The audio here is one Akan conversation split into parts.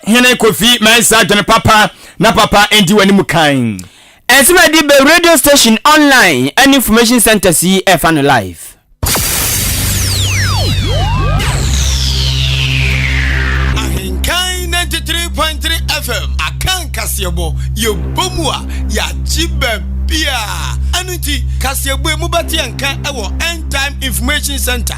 Hene Kofi Mensah dwene papa na papa ndi w'anim kan. Nsɛm a ɛde ba radio station, online, ne information centres yi refa no live. Ahenkan 93.3 FM aka nkaseɛbɔ yɛbɔ mu a yɛagye baabiaa. Ɛno nti kaseɛbɔ yi mobɛte yɛn nka wɔ End Time Information Centre.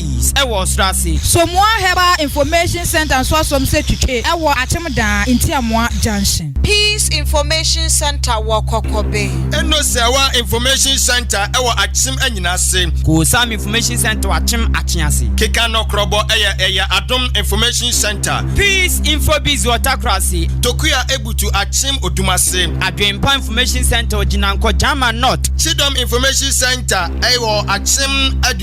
Ease ɛwɔ ɔsoro ase. Somoa Herbal Information Centre nso asom sɛ twitwe ɛwɔ Akyem Daa, Ntiamoa Junction. Peace Information Centre wɔ Kɔkɔbe. Enoseawa Information Centre ɛwɔ Akyem Anyina ase. Koosam Information Centre wɔ Akyem Akyea ase. Keka no Krɔbɔ ɛyɛ ɛyɛ Adom Information Centre. Peace Info Biz wɔ Takora ase. Tokua Ebutu Akyem Odum ase. Adwenpa Information Centre wɔ Gyinankɔ Gyama North. Kyidɔm Information Centre ɛwɔ Akyem Adu.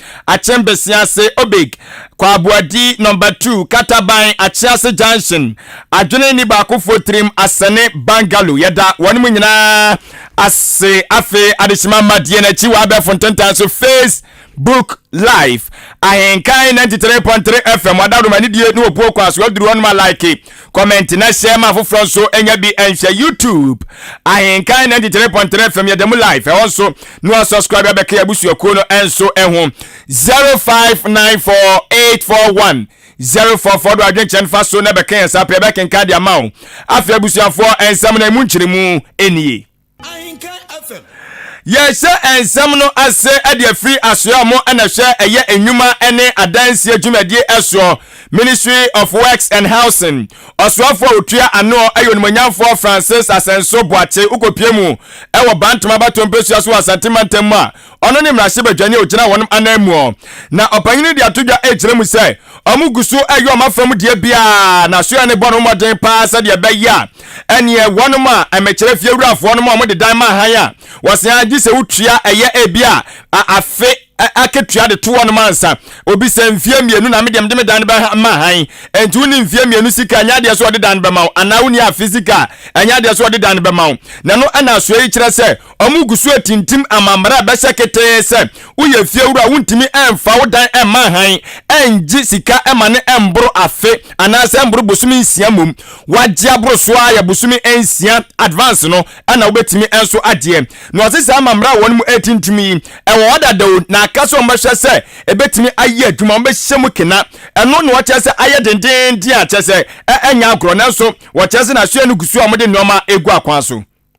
Akyem Besiase Obig Kwabuadi Number Two Kataban Akyease Junction Adwene nni baakofoɔ tirim Asɛne Bangalo Yɛda wɔnom nyinaa ase Afei Adehyema Mmadeɛ no akyi wɔ abɛɛfo ntentan so Face Book Live Ahenkan 93.3 FM Wɔ Adaworoma Anidie ne Obuo kwan so Waduru hɔ nom a like comment na share ma afoforɔ nso nya bi nhwɛ youtube ahenkan 93.3 fm yɛda mu live ɛhɔ nso na wa subscribe abɛka yɛ abusuakuo no nso ho 0594841044 04 do adwenkyɛn fa so na bɛka yɛn saa pɛ bɛkenka de ama wo afei abusuafoɔ nsɛm no ɛmu nkyerɛmu nie Yɛrehyɛ nsɛm no ase de afiri asoɛe a wɔn na ɛhwɛ ɛyɛ nnwuma ne adansie dwumadie soɔ, Ministry of Works and Housing. Ɔsoafoɔ a ɔtua ano yɛ Onimuonyamfoɔ Francis Asenso Boakye Ukopie mu wɔ Bantama Bato Mpesua so wɔ Asante Mantam mu a, Ɔno ne mmarahyɛbadwani a ogyina wɔn ananmu, na ɔpanyin no de ato dwa rekyerɛ mu sɛ wɔgu so reyɛ wɔn afam deɛ biara, na asoɛe no bɔ no mmɔden paa sɛdeɛ ɛbɛyɛ a ɛneɛ wɔnom a ɛmɛkyerɛ fie wurafoɔ nom a wɔde dan ma hann a wɔsɛn ara gye sɛ wotua ɛyɛ ebi a afe akatua de to wɔnom ansa obi sɛ mfie mmienu na medeɛ mede me dan no bɛma hann enti wonni mfie mmienu sika ɛnyɛ adeɛ sɛ wɔde dan no bɛma wo anaa wonni afe sika ɛnyɛ adeɛ sɛ wɔde dan no bɛma wo na no ɛna asoɛe yi kyerɛ sɛ Wɔn gu so atintim amammerɛ a ɛbɛhyɛ ketee sɛ woyɛ fiewura a wontumi mfa wo dan mma hann, ɛngye sika ma no ɛmboro afe anaasɛ ɛmboro bosome nsia mmom. Wagye aboro so ara yɛ bosome nsia advance no na wobɛtumi nso agyeɛ. Na ɔse saa amammerɛ a wɔn mu ɛretintim yi ɛwɔ hɔ dada o, na aka sɛ wɔn bɛhwɛ sɛ ɛbɛtumi ayɛ adwuma, wɔn bɛhyɛ mu kena. Ɛno na wɔkyerɛ sɛ ayɛ dendeenden a kyerɛ sɛ ɛnyɛ agorɔ, nanso wɔkyerɛ sɛ na asoɛe no gu so a wɔde nnoɔma ɛregu akwan so.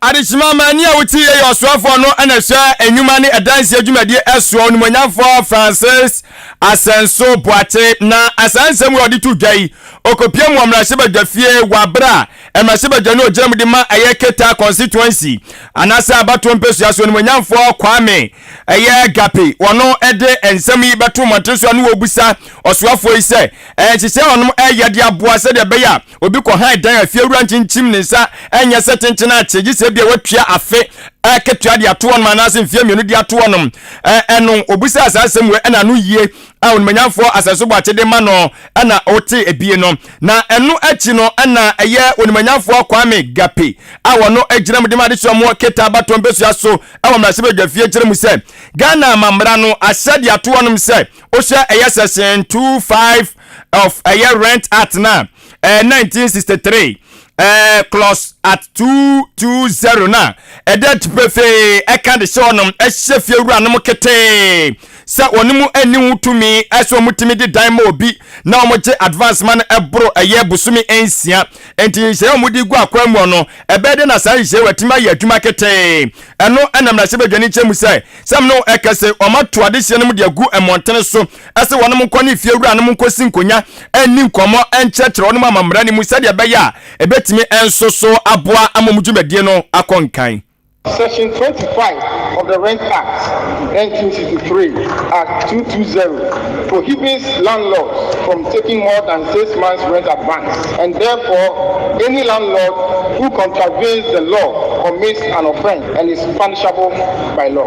Adehyema Mani a wote yɛ yɛ ɔsoafoɔ no na ɛhwɛ nnwuma ne ɛdanseɛ dwumadie ɛsoɔ onimonyamfoɔ Francis Asɛnso Boakye na asaa nsɛm wei ɔde to dwa yi ɔkɔpia mu wɔ mmarahyɛbadwa fie wɔ aberɛ a mmarahyɛbadwa no ɔgyina mu de ma ɛyɛ Keta constituency anaasɛ abatoɔ mpɛsua so onimonyamfoɔ Kwame ɛyɛ Gape wɔno ɛde nsɛm yi bɛto mmɔntere so a ne wɔbusa ɔsoafoɔ yi sɛ ɛyɛ nhyehyɛ wɔnom ɛyɛ de aboa sɛdeɛ ɛbɛyɛ a Obi kɔ hann dan a fiewura nkyinkyim ne nsa nyɛ sɛ kyenkyen akye, gye sɛ ebia watua afe akatua de ato hɔnom anaasɛ mfeɛ mmienu de ato hɔnom. Ɛno, obisaa saa asɛm wei, ɛna ano yie a onimanyamfoɔ asɛsobɔ akyede ma no na ɔte ebie no. Na ɛno akyi no na ɛyɛ onimanyamfoɔ Kwame Gape a wɔno gyina mu de ma adesua mu Keta Abatoɔ mpesua so wɔ mmarahyɛbadwafie kyerɛ mu sɛ Ghana amammara no ahyɛ de ato hɔnom sɛ wohwɛ ɛyɛ section 25 of ɛyɛ rent act no a ɛyɛ 1963 ɛɛ clause at 220 no a ɛda ti pefee ɛka de hyɛ ɔnom ɛhyɛ fie wura nom ketee sɛ wɔn mu ɛni ho tumi ɛsɛ wɔn tumi de dan ma obi na wɔn gye advance ma no ɛboro ɛyɛ bosomi nsia nti nhyɛ wɔn de gu akwa mu ɔno ɛbɛyɛ de na saa nhyɛ wɔ ɛtumi ayɛ adwuma ketee ɛno ɛna mmarahyɛ badwani kyɛ mu sɛ sɛm no ɛkɛse wɔn ato adehyɛ no mu de agu mmɔntene so se wɔnom nkɔ ne fiewuranom nkɔsi nkonya nni nkɔmmɔ nkyerɛkyerɛ wɔnom amammara no mu sɛdeɛ ɛbɛyɛ a ɛbɛtumi nso so aboa ama wɔn dwumadie no akɔ nkan. Section twenty five of the Rent Act, nineteen sixty three, Act two two zero, prohibits landlords from taking more than six months rent advance, and therefore any landlord who contravenes the law commits an offence and is punishable by law.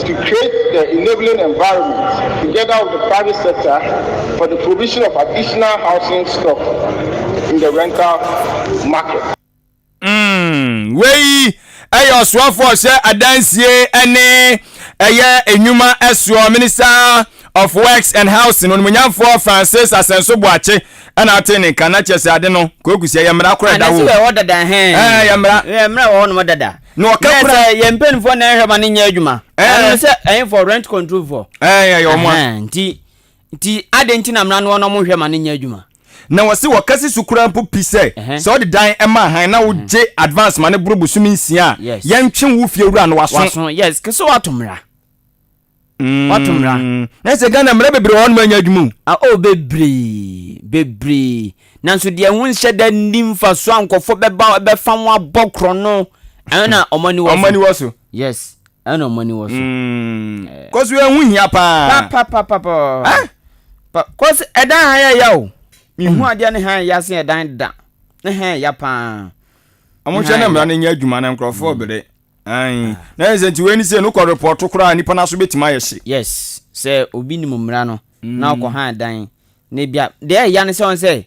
to create the enabling environment together with the private sector for the provision of additional housing stock in the rental market. Mm, wei ɛyɛ ɔsoafoɔ ɔhyɛ adansie ɛne ɛyɛ nnwuma ɛsoɔ minister of works and housing onimonyamfoɔ francis asɛnso boakye ɛna ate ne nka na kyerɛ sɛ ade no kɔkusi ɛyɛ mmara korɔ ɛda hɔ ɛyɛ mmara ɛyɛ mmara wɔ hɔ nom dada Na ɔka kura. Na sɛ yɛn mpanimfoɔ na ɛhwɛ ma no nyɛ adwuma. Ɛno sɛ ɛyɛ for rent control for. Ɛɛ ɛyɛ wɔn a. Nti nti adi nti na mmara no wɔn hwɛ ma no nyɛ adwuma. Na wɔsi wɔka si so kura mpo pi sɛ sɛ ɔde dan ɛma ahan na wogye advance ma no boro bosomi nsia a yɛntwe wo fie wura no waso. Waso yes kese wato mmara. Mm, Wato mmara. Na sɛ Ghana mmara bebree wɔ hɔ nom anya adwuma o. Ah, oh, bebree, bebree. Nanso deɛ ho nhyɛ da nni mfasoɔ a nkɔfoɔ bɛba bɛfa ho abɔ korɔ no, ɛno na wɔn ani wɔ so. Wɔn ani wɔ so. Yes, ɛno na wɔn ani wɔ so. Mm. Eh. Kɔso yɛ ho hia paa. Pa pa pa pa pa. Ah? Pa, kɔso ɛdan ha yɛ ya o. Mihu mm. adeɛ ne ha yɛ ya se ɛdan da. Ne ha yɛ ya paa. Wɔn hyɛ na mmara no nyɛ adwuma na nkurɔfoɔ bere. Ayi. Ah. Na yɛ sɛ nti wei ni sɛ no kɔ report koraa nipa n'aso betumi ayɛ hye. Yes, sɛ obi nim mmara no mm. na ɔkɔ han dan na ebi a deɛ ɛya ne sɛ wɔn sɛ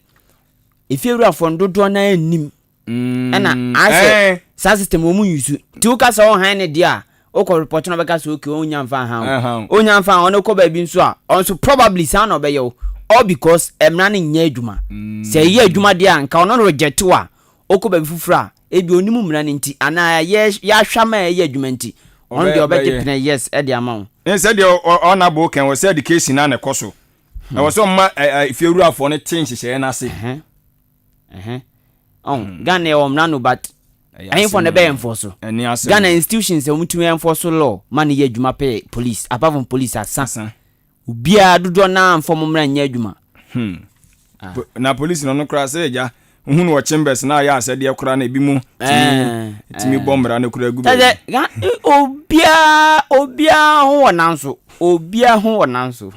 efiewurafoɔ no dodoɔ na anim mm. ɛna asɛ eh. saa system wɔn mu yusu ti wo kasa wɔn han ne deɛ a okɔ report na ɔbɛka sɛ okay wɔn nya nfa han o onya nfa wɔn kɔ baabi nso a ɔnso probably saa na ɔbɛyɛ o all because mmara no nyɛ adwuma mm. sɛ ɛyɛ adwuma deɛ a nka ɔno no reject wa okɔ baabi foforɔ a Ebia ɔnim mmara no nti anaa yɛ yɛahwɛ ama a ɛyɛ adwuma nti ɔno deɛ ɔbɛgye pene yes de ama wo. Ne sɛ deɛ ɔna abo kɛn wɔ sɛ education na na ɛkɔ so na hmm. wɔ sɛ ɔma efiewurafoɔ no te nhyehyɛeɛ no ase. Hmm. Ghana yɛ ɔmmra no but ɛyɛfɔ na ɛbɛyɛ mfɔ so Ghana institutions a wɔtumi ɛmfɔ so law ma no yɛ adwuma pɛ police apart from police asa Obiara dodoɔ no ara mfa wɔn mmra nyɛ adwuma. Hmm. Ah. Po, na polisi no no koraa sɛ agya wohu no wɔ chambers na ayɛ asɛdeɛ koraa na ebi mu tumi eh, tumi eh. bɔ mmara no koraa gu baabi. Sɛ obiara obiara ho wɔ nan so obiara ho wɔ nan so.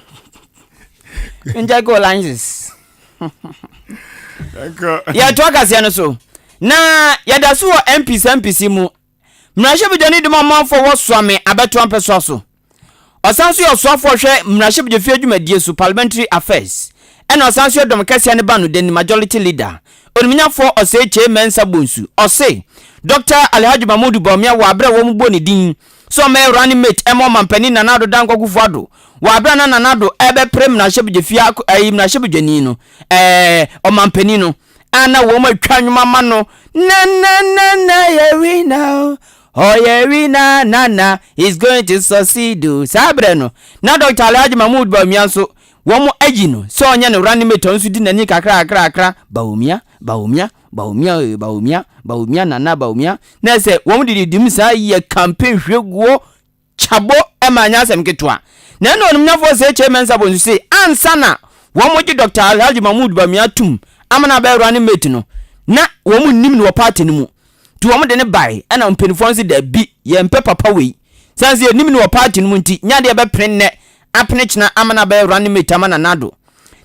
Njɛ kɛ olanges. Yɛtoa kaseɛ no so na yɛda so wɔ mpisa mpisi mu Mmarahyɛbadwani de ma ɔmanfoɔ a wɔsoa me abɛto ampɛsoa so. Ɔsan nso yɛ ɔsoafoɔ a ɔhwɛ mmarahyɛbadwafie adwumadie so, Parliamentary Affairs, ɛna ɔsan nso yɛ Dɔm Kɛseɛ no Banodanni, Majority Leader, Onimnyafoɔ Osei Kyei Mensah Bonsu. Ɔse Dɔkta Alhaji Mahmudu Bawumia wɔ aberɛ a wɔbɔ ne din sɛ ɔmmɛyɛ running mate ɛma Ɔmanpanin Nana Addo Dankwa Akufo-Addo wɔ aberɛ a na Nana Addo ɛrebɛpere mmarahyɛbadwafie ayi mmarahyɛbadwani no, ɛɛ Ɔmanpanin no. a na wɔatwa nnwom ama no na na na na yɛ wina o ɔyɛ wina na na is going to succeed o saa berɛ no na dɔkta alhaji mahmood bawumia nso wɔn ayi no sɛ ɔnyɛ no running mate ɔno nso di n'ani kakrakrakra bawumia bawumia bawumia ee bawumia bawumia nana bawumia na sɛ wɔn didi dim saa yɛ campaign hwɛ guo Chabɔ ma ɛnyɛ asɛm ketewa. Na ɛna onimnyafɔɔ Sir H. A. Mensah bɔ nsu se, ansa na wɔgye Dɔkta Alhaji Mahmood Bawumia tum ama no abɛyɛ running mate no, na wɔn nnim no wɔ party no mu. Nti wɔn de no bae, ɛna mpanyinfoɔ no se, dabi, yɛmpɛ papa wei. Sane se yɛnnim no wɔ party no mu nti, nyɛ adeɛ yɛbɛpene nnɛ, apene kyena ama no abɛyɛ running mate ama Nana Addo.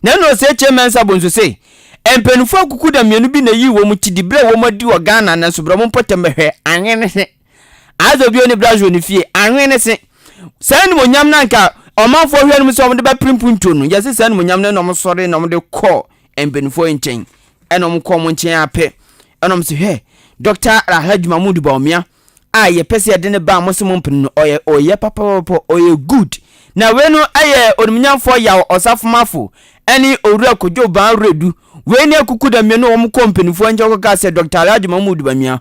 Na ɛna Sir H. A. Mensah bɔ nsu se, mpanyinfoɔ akukuda mmienu bi na ɛyii wɔn ti di berɛ a wɔn adi wɔ Ghana nanso bra mo mpɔtam bɛhwɛ, anwene he. Adze bio ne Blasio ne fie, ahwee ne se, Saa animuonyam no anka ɔmanfoɔ hwɛ no mu sɛ wɔde bɛpere mpuntuo no, yɛse saa animuonyam no ɛna wɔn sɔre na wɔn de kɔ mpanimfoɔ yi nkyɛn, ɛna wɔn kɔ wɔn nkyɛn ara pɛ, ɛna wɔn se hwɛ, Dɔkta Alhaji Mahmoud Bawumia a yɛpɛ sɛ yɛde ne ba a mo se mo mpene no, ɔyɛ ɔyɛ papapapa, ɔyɛ good. Na wei no yɛ onimnyamfoɔ Yaw Ɔsafomafo ɛne Owura Kojo Banredu, wei ne akuku da mmienu a wɔn kɔ mpanimfoɔ nkyɛn kɔkaa sɛ Dɔkta Alhaji Mahmoud Bawumia,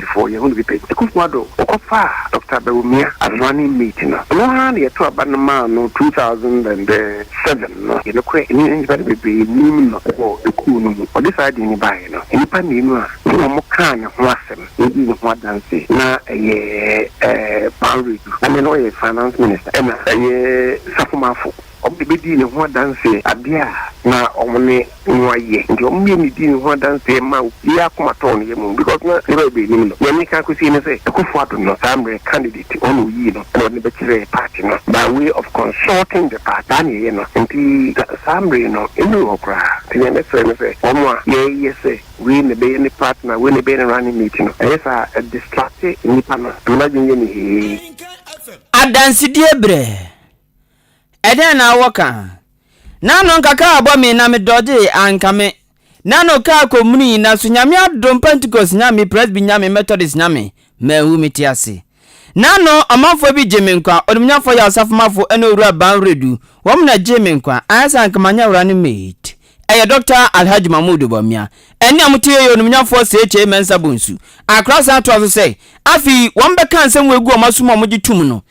Apolisifoɔ yɛn ho no bi pɛ. Akufo Addo wɔkɔ faa Doctor Bawumia Asamoah ne Mate no. Ɔno ara na yɛto aba no maa no two thousand and seven no. Yɛ nokorɛ ɛne nnipa no bebree nim no wɔ ekuo no mu. Ɔde saa din no baeɛ no, nnipa mmienu a me ne wɔn kaa ne ho asɛm na wɔdii ne ho adanse na ɛyɛ Paul Redu, na nea na ɔyɛ Finance Minister ɛna ɛyɛ Safo Marfo. Wɔn na ebedii ne ho adanse. Ade a na wɔn ne no ayɛ nti, wɔn mmienu dii ne ho adanse maa obiara akoma tɔɔ ne yam because na nneɛma bebree nnim no. Nea meka akosi ne sɛ, Akufo Addo no, saa mmerɛ, candidate, wɔn na wɔyii no na wɔde no bɛkyerɛɛ party no by way of consulting the party. Saa na yɛyɛ no nti, saa mmerɛ no, nnuru hɔ koraa. Nti nea mɛsrɛ ne sɛ, wɔn a yɛreyɛ sɛ wei na ɛbɛyɛ ne partner, wei na ɛbɛyɛ ne running mate no, ɛyɛ saa a, ɛdistracte nnipa no, ɛma n'adwene yɛ no hee. Adansedie berɛ. Ɛdɛn na awɔ ka? Na no nka kaa bɔ me na me dɔde anka me na no kaa kɔ muni na so Nyame adom Pentecost nya me Presby nya me Methodist nya me manwu me te ase na no ɔmanfoɔ bi gye me nkwa onimnyafɔ yɛ Asafomafo ɛne Owura Ban Redu wɔn na gye me nkwa ayɛ sɛ anka manyɛ awura no maid ɛyɛ Doctor Alhaji Mahmood Bawumia ɛne a mo te yɛ yɛ onimnyafɔ CHA Mensah Bonsu Akra san toa so sɛ afei wɔn bɛka nsɛm wɔ egu wɔn aso mu a wɔn gye tum no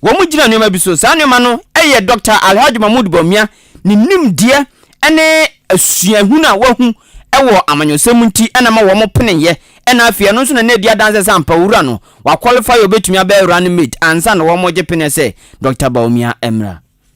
Wɔgyina nneɛma bi so. Saa nneɛma no yɛ Dɔkta Alhaji Mahmood Bawumia ne nimdeɛ ne suahunu a wahu wɔ amanyɔsɛm mu nti na ɛma wɔpeneeɛ na afei ɛno nso na na ɛdi adanseɛ sɛ ampa owura no, wakwɔlifai a ɔbɛtumi abɛyɛ running mate ansa na wɔregye peneɛ sɛ Dɔkta Bawumia mmra.